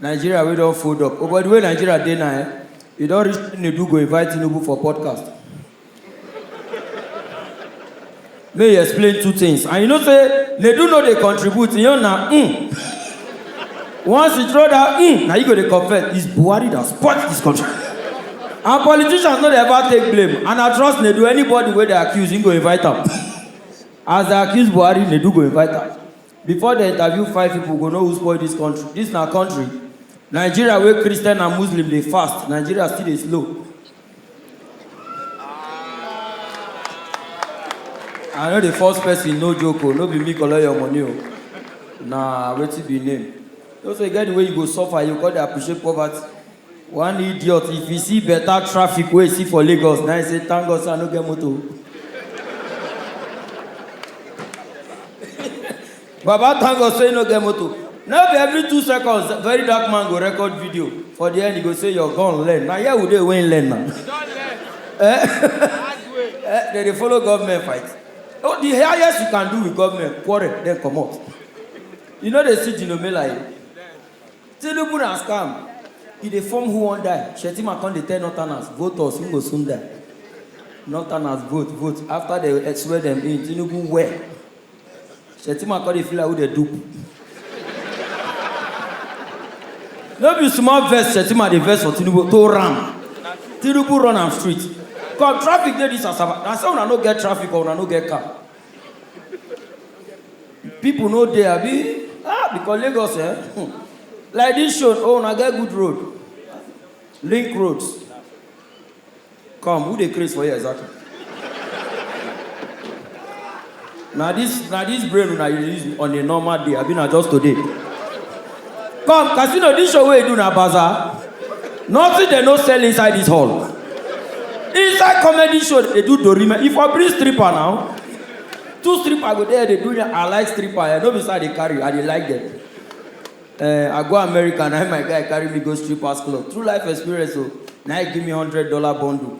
Nigeria wey don fold up. Oh but the way Nigeria dey now eh, e don reach Chinedu go invite Tinubu for podcast. Make he explain two things and you know say Nedu no dey contribute, him own na mm. Once he throw that mm, na you go dey confess, it's Buhari that spoilt this country. And politicians no dey ever take blame and I trust Nedu, anybody wey dey accuse, him go invite am. As they accuse Buhari, Nedu go invite am. Before dem interview five people go know who spoil this country, this na country? Nigeria wey Christian and Muslim dey fast, Nigeria still dey slow. I no dey force person no joke o, no be me collect your money o. Na wetin be name. You know say e get the way you go suffer, you go come dey appreciate poverty. One idiot, if he see better traffic wey he see for Lagos, na he say, thank God say I no get motor. Baba thank God say you no get motor. No be every two seconds very dark man go record video. For the end, he go say your gun learn. Na here we dey wey he learn na. Eh? Eh, They dey follow government fight. Oh, the highest you can do with government, quarrel, then comot. You no dey see Dino Melaye. Tinubu na scam, he dey form who wan die, Shettima come dey tell northerners vote us we go soon die, northerners vote vote after dem swear dem in, Tinubu wear, Shettima come dey feel like who dem dupe. No be small vex Shettima dey vex for Tinubu to ram, Tinubu run am street, come traffic dey this Asaba, na say una no get traffic or una no get car. People no dey abi? Ah, because Lagos eh? Hmm. Like this show, oh, una get good road. Link roads. Come, who dey craze for here exactly? na this na this brain una dey use on a normal day abi na just today? Come, casino, this show wey you do na bazaar. Nothing they no sell inside this hall. Inside comedy show, they do dorime. If I bring stripper now, two stripper go there, they do me. I like stripper. I know beside they carry, I dey like them. Uh, I go America and I, my guy carry me go strippers club. True life experience, so now he give me hundred dollar bundle.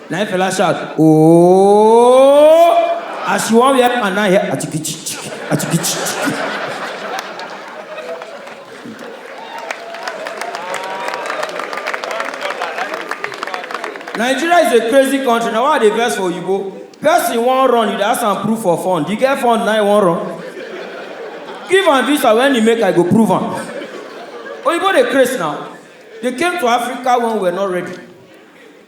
Na him fella shout oooooooo as she wan wear pant na hear achikichich achikichich. Nigeria is a crazy country na why I dey vex for oyibo. Person wan run you dey ask am proof for fund, you get fund na you wan run? Give am visa when he make I go prove am. Oyibo dey craze now, they came to Africa when we were not ready.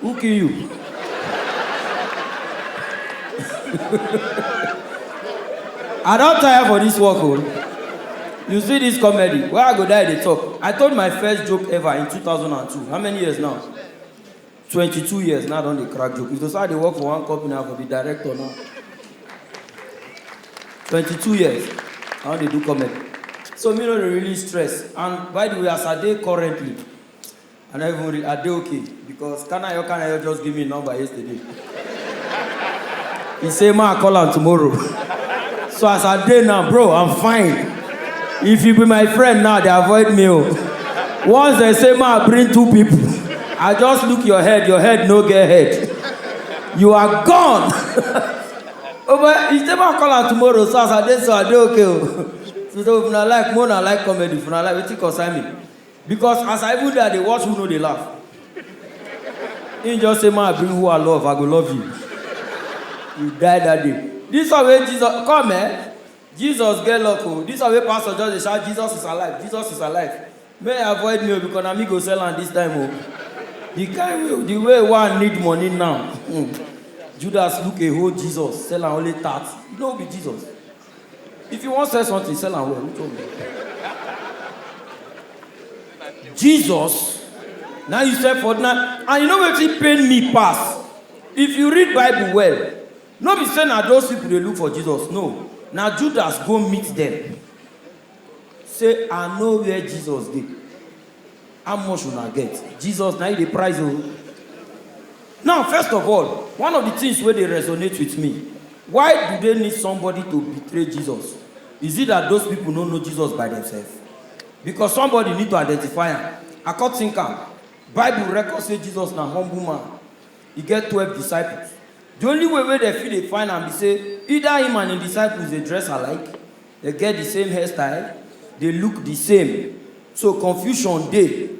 Who kill you? I don tire for this work o. Oh. You see this comedy, where I go die dey talk. I told my first joke ever in 2002. How many years now? 22 years now I don dey crack joke. If to say I dey work for one company, I go be director now. 22 years, I don dey do comedy. So me no dey really stress. And by the way, as I dey currently, I no even read. I dey okay because Kanayo Kanayo just give me him number yesterday. He say ma I call am tomorrow. So as I dey now, bro, I'm fine. If you be my friend now, they avoid me. Oh. Once they say ma I bring two people, I just look your head. Your head no get head. You are gone. oh, but he say ma I call am tomorrow. So as I dey, so I dey okay. Oh. So if una like, more na like comedy. If una like, wetin concern me? Because as I even dey I dey watch who no dey laugh. Him just say ma bring who I love I go love you. You die that day. This one wey Jesus come eh Jesus get luck oh this one wey pastor just dey shout Jesus is alive Jesus is alive may e avoid me oh because na me go sell am this time oh the kind way the way wey I need money now Judas look a whole Jesus sell am only thirty no be Jesus. If you wan sell something, sell am well. Which one be? Jesus, now you sell for now, and you know wetin pain me pass. If you read Bible well, no be say na those people dey look for Jesus. No, na Judas go meet them. Say I know where Jesus dey. How much una get? Jesus na you dey price o. Now first of all, one of the things wey dey resonate with me, why do they need somebody to betray Jesus? Is it that those people no know Jesus by themselves? Because somebody need to identify am. I come think am, Bible record say Jesus na humble man, e get twelve disciples. The only way wey dem fit dey find am be say either him and him disciples dey dress alike, Dem get the same hairstyle, dey look the same, so confusion dey.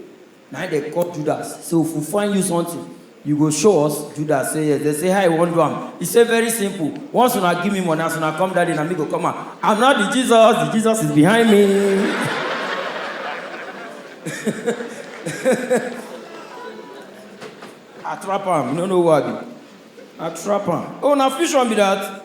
Na im dem call Judas say, if we find you something, you go show us? Judas say yes. Dem say, how you wan do am? He say, very simple, once una give me money, as una come that day, na me go come out. I'm not the Jesus, the Jesus is behind me. I trap am, you no know who I be? I trap am. Oh, na fusion be that?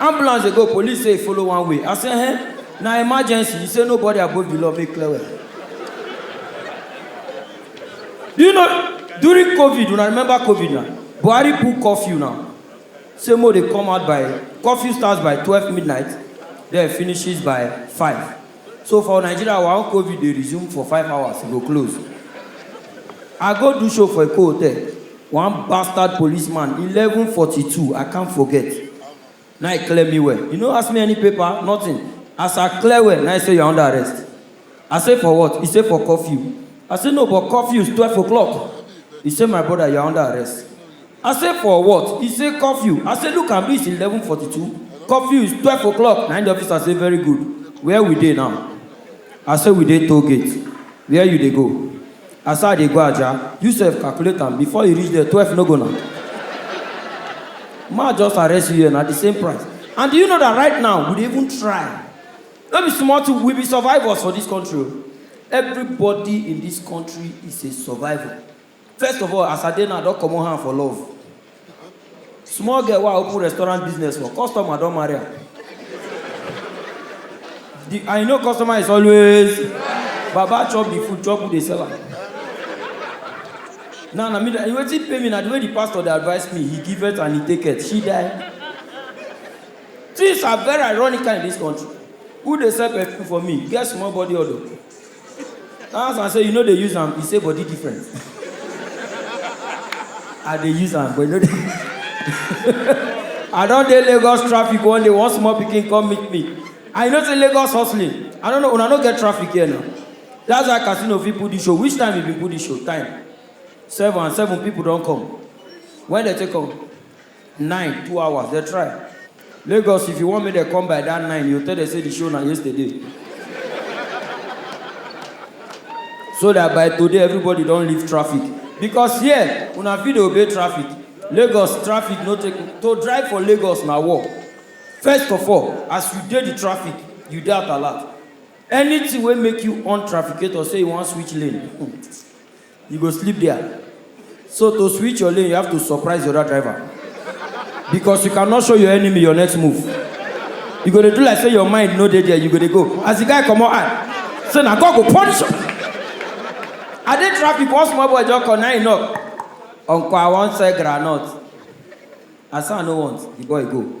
ambulance dey go police say e follow one way i say eh na emergency you say nobody above the law make clear well do you know during covid una remember covid na buhari put curfew now say mo dey come out by curfew starts by twelve midnight then finishes by five So for Nigeria, our own COVID dey resume for five hours, e go close. I go do show for Eko Hotel, one bastard policeman, eleven forty two, I can't forget, na e clear me well. E no ask me any paper, nothing. As I clear well, na e say you are under arrest. I say for what? E say for curfew. I say no, but curfew is twelve o'clock. E say my brother, you are under arrest. I say for what? He say curfew. I say look am reach eleven forty two. Curfew is twelve o'clock. Na the officer say very good. Where we dey now? I say we dey toll gate. Where you dey go? I say I dey go Aja. You sef calculate am before you reach there twelve no go na. Ma just arrest you here na the same price. And do you know that right now we dey even try. No be small thing we be survivors for this country o. Everybody in this country is a survivor. First of all, as I dey now, I don comot hand for love. Small girl wey I open restaurant business for, customer don marry am. The, and you know customer is always, Baba chop the food, chop who dey sell am. Now, na me, dey- and wetin pay me na the way the pastor dey advise me, he give it and he take it, she die. Things are very ironical in this country. Who dey sell perfume for me? Get small body odor. My husband say you no dey use am, e say body different. I dey use am but e no dey I don dey Lagos traffic one day, one small pikin come meet me and you know say Lagos hustling, I no know, una no get traffic here na? That's why Casino fit put this show, which time he been put this show? Time? Seven and seven people don come, when dem take come? Nine, two hours, dem try. Lagos, if you want make dem come by that nine, you tell dem say the show na yesterday. so that by today everybody don leave traffic because here una fit dey obey traffic lagos traffic no take to drive for lagos na war first of all as you dey the traffic you dey at alert anything wey make you on trafficator say you wan switch lane You go sleep there. So to switch your lane, you have to surprise the other driver. Because you cannot show your enemy your next move. You go to do like say your mind no dey there, you go to go. As the guy come out, ah, say na God go punish you. I dey traffic, one small boy just come, now he knock. Uncle, I wan sell groundnut. I say I no want, the boy go.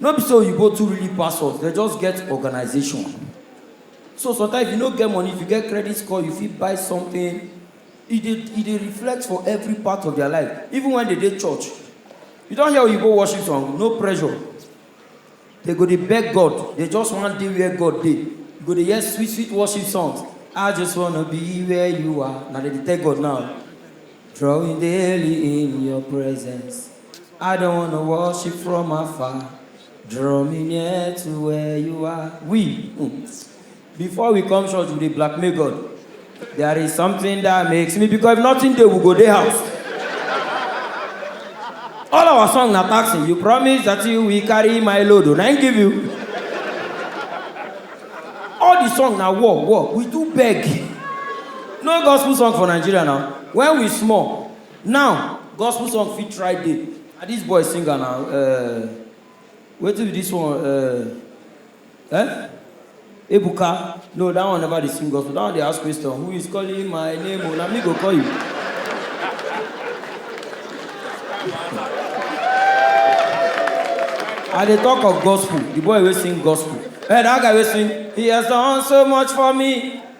No be say oyibo too really pass us, dem just get organization. So sometimes if you no get money, if you get credit score, you fit buy something. E dey e dey reflect for every part of their life, even when dem dey church. You don hear oyibo worship song? No pressure. Dem go dey beg God, dem just wan dey where God dey. You go dey hear sweet sweet worship songs, I just wanna be where you are, na dem dey tell God now. Drawing daily in your presence. I don't wanna worship from afar. Draw me near to where you are. We, mm, before we come church, we dey blackmail God. There is something that makes me because if nothing dey, we go dey house. All our song na taxi. You promise that you will carry my load. oh, Na him give you. All the song na war, war. We do beg. No gospel song for Nigeria now. When we small, Now gospel song fit try dey. Na this boy sing am na um wetin be this one um um ebuka no that one never dey sing gospel that one dey ask question who is calling my name o na me go call you. I dey talk of gospel the boy wey sing gospel eh that guy wey sing he has done so much for me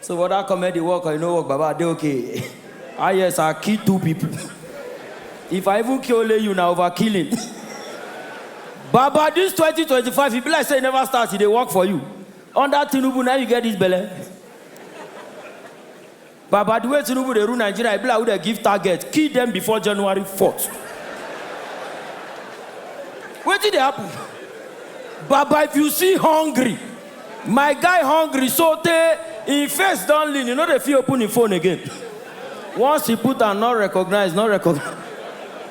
So whether comedy work or e no work, Baba, I dey okay. Ah yes, I kill two people. If I even kill only you, na overkilling. Baba, this 2025, e be like say e never start, e dey work for you. Under Tinubu, na you get this belle. Baba, the way Tinubu dey rule Nigeria, e be like who dey give target, kill them before January 4th. Wetin dey happen? Baba, if you see hungry, My guy hungry so tey him face don lean, he no dey fit open him phone again. Once he put am not recognized, not recognized.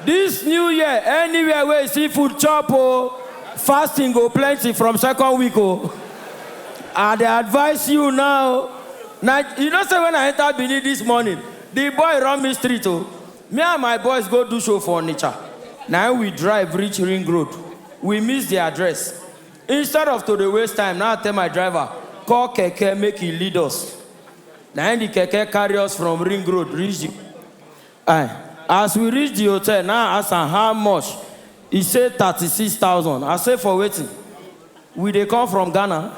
This new year, anywhere wey you see food chop o, fasting go plenty from second week o. I dey advise you now, na you know say when I enter Benin this morning, the boy run me street o. Me and my boys go do show for Onitsha, na him we drive reach ring road, we miss the address. Instead of to dey waste time, na I tell my driver call keke make e lead us. Na im the keke carry us from ring road reach the I. As we reach the hotel, na I ask am how much, e say thirty six thousand. I say for wetin? We dey come from Ghana?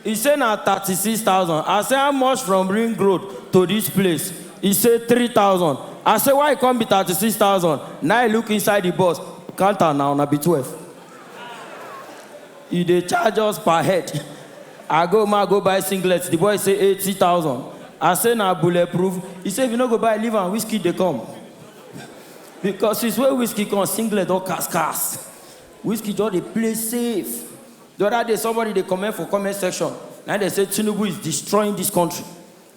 E say na thirty six thousand. I say how much from ring road to this place? E say three thousand. I say why e come be thirty six thousand? Na im e look inside the bus count am na, una be twelve. You dey charge us per head. I go ma go buy singlet, the boy say eighty thousand. I say na bullet proof, he say if you no go buy leave am wizkid dey come. Because since wey wizkid come singlet don cast cast, wizkid just dey play safe. The other day somebody dey comment for comment section na im dey say Tinubu is destroying this country.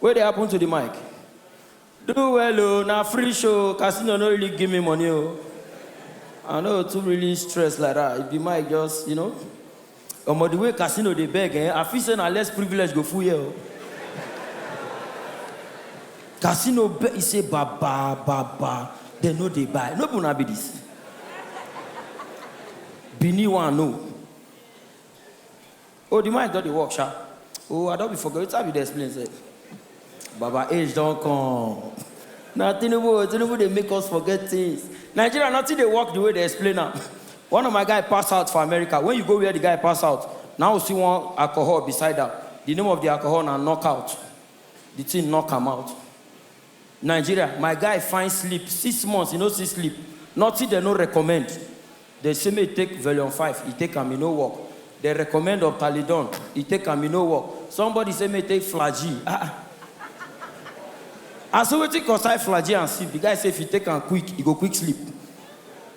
Wey dey happen to the mic? Do well o, na free show o, casino no really give me money o, I no too really stress like that, if the mic just, you know, Omo the way casino dey beg ehn, I feel say na less privilege go full here o. Casino beg, he say baba, baba, dem no dey buy, no be una be this? Benin one o. Oh, the mind don dey work, sha. Oh, I don be forget wetin I be dey explain sef. Baba age don come. Na Tinubu o, Tinubu dey make us forget things. Nigeria nothing dey work the way dey explain am. One of my guy pass out for America, when you go where the guy pass out, na im you see one alcohol beside am. The name of the alcohol na knockout. The thing knock am out. Nigeria my guy find sleep six months e no see sleep nothing dem no recommend dem say make e take velion five e take am e no work dem recommend optalidone e take am e no work somebody say make e take flagyl ah ah I say wetin concern flagyl and sleep the guy say if e take am quick e go quick sleep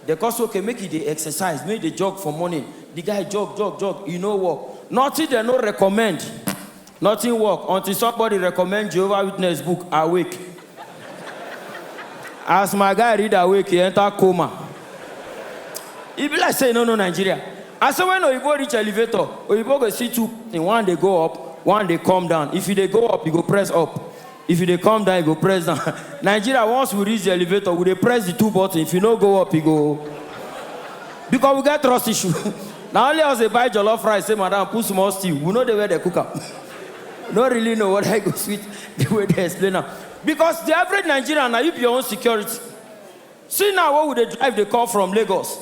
dem come say okay make e dey exercise make e dey jog for morning the guy jog jog jog e no work nothing dem no recommend. Nothing work until somebody recommend Jehovah Witness book Awake! As my guy read Awake! he enter coma. E be like say e no know Nigeria. I say when oyibo reach elevator, oyibo go see two in one dey go up, one dey come down. If you dey go up, you go press up. If you dey come down, you go press down. Nigeria, once we reach the elevator, we dey press the two button. If you no go up, you go. Because we get trust issue. Na only us dey buy jollof rice, say madam put small stew. We no dey where they cook am. No really know whether e go sweet the way they explain am. Because the average Nigerian na you be your own security. See now wey we dey drive dey come from Lagos,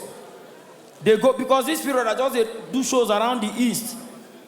dey go because this period I just dey do shows around the east.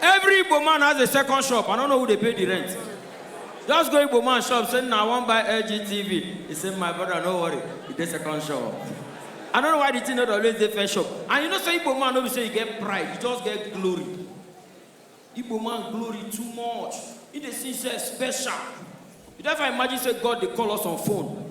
Every Igbo man has a second shop. I don't know who they pay the rent. Just go Igbo man shop, say, now I want buy LG TV. He said, my brother, no worry. He did second shop. I don't know why the thing not always the first shop. And you know, say Igbo man, always say you get pride. You just get glory. Igbo man glory too much. He dey see say special. You never imagine say God dey call us on phone.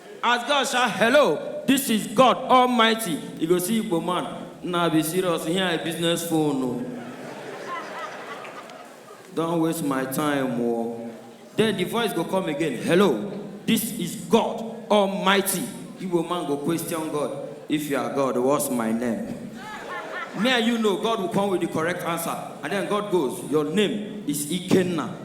As God shout hello this is God almighty you go see igbo man Nah be serious here I business phone o. Don't waste my time o. Oh. Then the voice go come again hello this is God almighty igbo man go question God if you are God what's my name. Me and you know God will come with the correct answer and then God goes your name is Ikenna.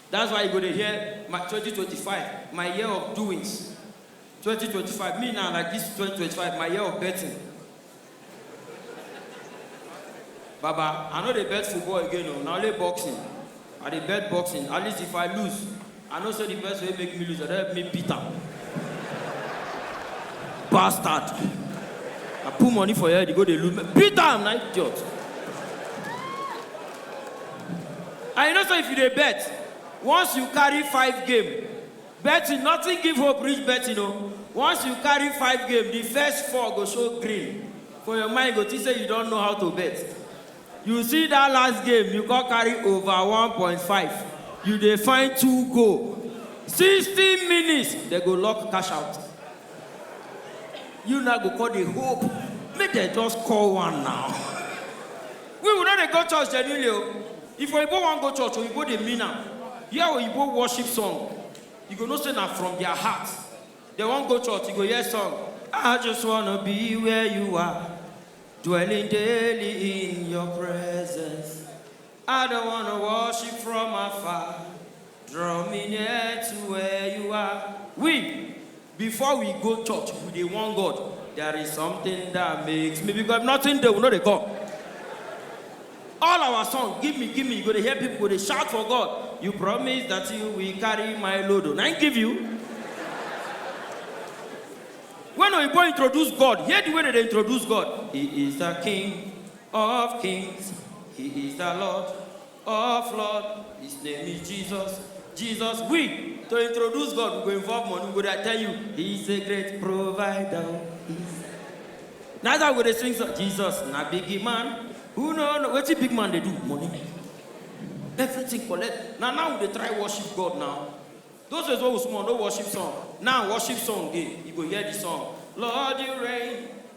That's why you go dey hear my twenty twenty five my year of doings twenty twenty five me now like this twenty twenty five my year of betting baba I no dey bet football again o na only boxing I dey bet boxing at least if I lose I know say the person wey make me lose I don help me beat am bastard I put money for your head you go dey look me beat am na idiot. And you know say if you dey bet, once you carry five game, betting nothing give hope reach betting o, once you carry five game the first four go show green for your mind you go think say you don know how to bet, you see that last game you come carry over one point five you dey find two goal, sixty minutes dem go lock cash out, you now go come dey hope make dem just score one now. We we no dey go church genuinely o. If oyibo wan go church, oyibo dey mean am. Hear oyibo worship song, you go know say na from their heart dem wan go church. You go hear song, I just wanna be where you are, dwelling daily in your presence. I don't wanna worship from afar, draw me near to where you are. We. Before we go church, we dey warn God, there is something that makes me because if nothing dey, we no dey come. All our song, give me, give me, you go dey hear people go dey shout for God. You promise that you will carry my load. oh." Na him give you. When Oyibo introduce God, hear the way they dey introduce God. He is the King of kings. He is the Lord Of Lord, His name is Jesus. Jesus, we to introduce God, we go involve money. We go there tell you, He's a great provider. He's... That's how we dey sing song. Jesus, na big man. Who know no, wetin big man dey do? Money. Everything collect. Na now we dey try worship God now. Those days wey we small, no worship song. Now worship song dey. You go hear the song. Lord, you reign.